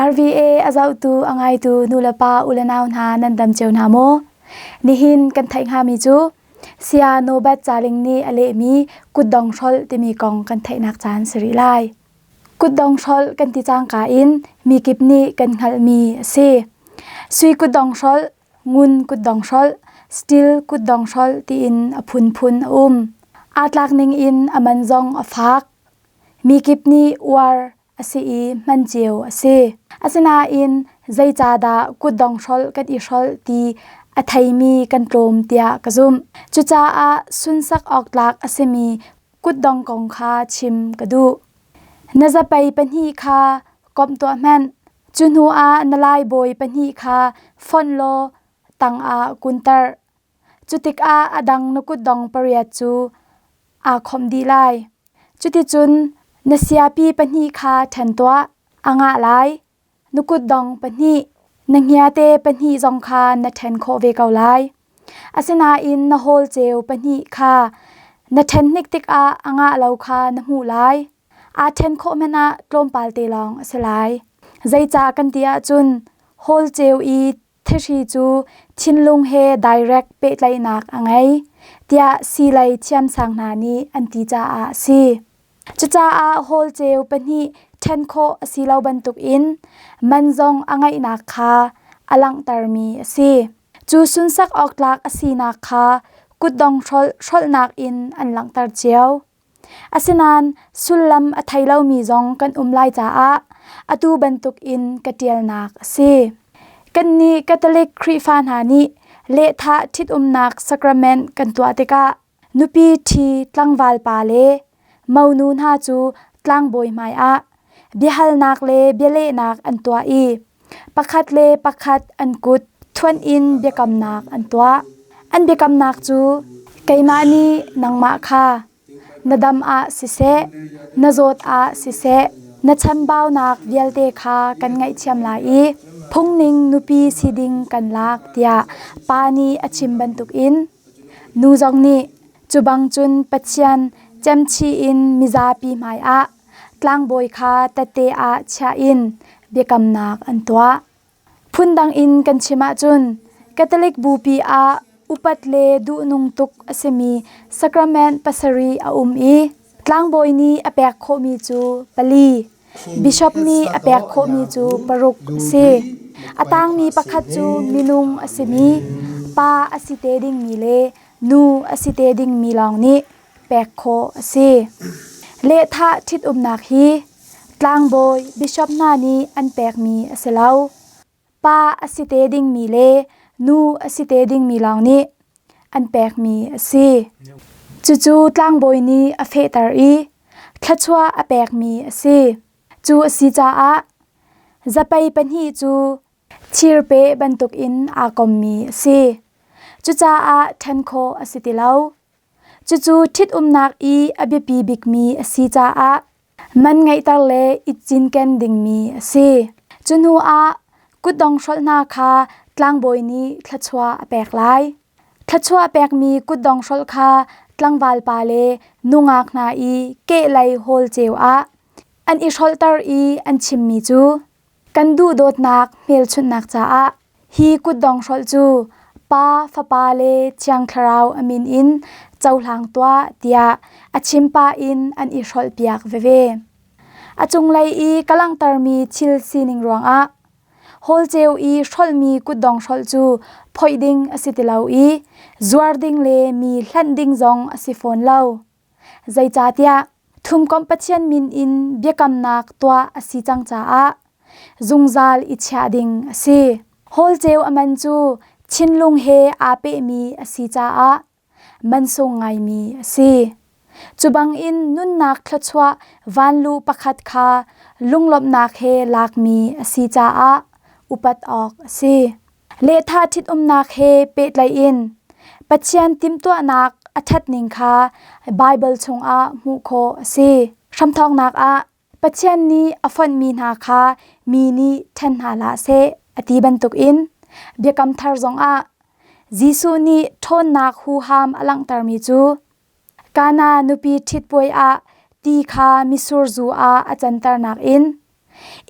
RVA a zohtu a ngaitu nulepa u le nau hna nan dam cio hna maw? Nihin kan theih hngami cu saya Norbert Caling nih a lehmi kutdong hrolh timi kong kan theihnak caan si rih lai. Kutdong hrolh kan ti cangka in mikip nih kan hngalhmi a si. Sui kutdong hrolh ngun kutdong hrolh steel kutdong hrolh tiin a phunphun a um. Aa tlak ning in a man zong a fak. Mi kip nih uar a si i hman cio a si. Asinain zeicahdah kutdong hrolh kan i hrolh ti a theimi kan tlawm tiah ka zumh. Cucaah sunsak awk tlak a simi kutdong kong kha chim ka duh. Na zapei pahnih kha komh tuah hmanh. Cu hnu ah na laibawi pahnih kha fonh law tangah kunter. Cutikah a dang na kutdong pariat cu aa khawmh dih lai. Cuticun na siapi pahnih kha ṭhen tuah, a ngah lai. Na kutdong pahnih, na hniate pahnih zong kha na ṭhen khawh ve ko lai. Asinain na hawlceu pahnih kha na ṭhen hnik tikah a ngah lo kha na hmuh lai. Aa ṭhen khawh hmanh ah tlawmpal te lawng a si lai. Zeicah kan ti ahcun hawlceu i thihri cu thinlung he direct pehtlaihnak a ngei tiah siilei thiamsang hna nih an ti caah a si. Cucaah hawlceu pahnih ṭhen khawh a si lo bantukin man zong a ngeihnak kha a langhtermi a si. Cu sunsak awk tlak a sinak kha kutdong hrolh hrolhnak in an langhter cio. Asinain sullam a thei lomi zong kan um lai caah atu bantukin ka ṭialnak a si. Kannih Catholic Khrihfa hna nih lehthah ṭhitumnak sacrament kan tuah tikah nupi ṭhi tlangval pa le monu hna cu tlangbawi hmaiah biahalnak le bialehnak an tuah i Pakhat le pakhat an kut thuanh in biakamnak an tuah. An biakamnak cu, “Keimah nih nangmah kha na dam ah siseh, na zawt ah siseh, na chambaunak vialte kha kan ngaihthiam lai i phungning nupi si ding kan lak,” tiah Pa nih a chim bantukin nu zong nih cu bang cun Pathian cemchih in mizapi hmaiah Tlangbawi kha tate ah chiah in biakamnak an tuah. Phundang in kan chim ahcun Catholic bupi ah upat le duhnung tuk a simi sacrament pasarih a um i tlangbawi nih a pek khawhmi cu pali, bishop nih a pek khawhmi cu paruk a si. A tangmi pakhat cu minung a simi, pa a si te dingmi le nu a si te dingmi lawng nih pek khawh a si. Lehthah ṭhitumnak hi tlangbawi bishop hna nih an pekmi a si lo. Pa a si te dingmi le nu a si te dingmi lawng nih an pekmi a si. Cucu tlangbawi nih a fehter i thluachuah a pekmi a si. Cu a si caah zapei pahnih cu thirpe bantukin aa kommi a si. Cucaah ṭhen khawh a si ti lo. Cucu ṭhitumnak i a biapi bikmi a si caah man ngeihter le i cinken dingmi a si. Cu hnuah kutdong hrolh hna kha tlangbawi nih thluachuah a pek lai. Thluachuah pekmi kutdong hrolh kha tlangvalpa le nungak hna i kehlei hawl ceu ah an i hrolhter i an chimmi cu, Kan duhdawtnak hmelchunhnak caah hi kutdong hrolh cu Pa, Fapa le Thiang Thlarau a min in cohlang tuah tiah a chim pah in an i hrolhpiak veve. A cunglei i ka langhtermi thil sining ruangah hawlceu i hrolhmi kutdong hrolh cu phoih ding a si ti lo i zuar ding le mi hlanh ding zong a si fawn lo. Zeicahtiah Thumkomh Pathian min in biakamnak tuah a si cang caah zungzal i chiah ding a si. Holceu a man cu thinlung he aa pehmi a si caah mansung ngaimi a si. Cubangin nunnak thluachuah van lu pakhat kha lunglawmhnak he lakmi a si caah upat awk a si. Lehtha ṭhitumnak he pehtlaiin Pathian timhtuahnak a ṭhatning kha Baibal chungah hmuh khawh a si. Hramthawknak ah Pathian nih a fonhmi hna kha mi nih ṭhen hna hlah seh a ti bantukin Biakam Thar zongah Jesuh nih ṭhawnnak huham a langhtermi cu Kana nupi ṭhitpuai ah ti kha misur zu ah a canternak in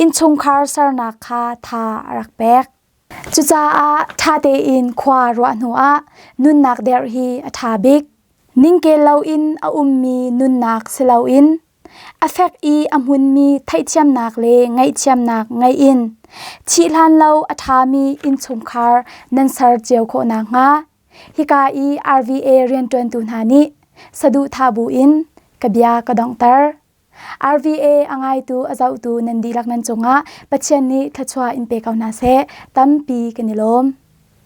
innchungkhar sernak kha tha a rak pek. Cucaah ṭha tein khua ruah hnuah nunnak derh hi a ṭha bik. Ningkel loin a ummi nunnak si loin a fek i a hmunmi theihthiamnak le ngaihthiamnak ngei in thih hlan lo a ṭhami innchungkhar nan ser cio khawh nakhnga Hika i RVA rianṭuantu hna nih saduhthah buin ka bia ka donghter. RVA a ngaitu a zohtu nan dihlak nan cungah Pathian nih thluachuah in pe ko hna seh, tampi kan i lawm.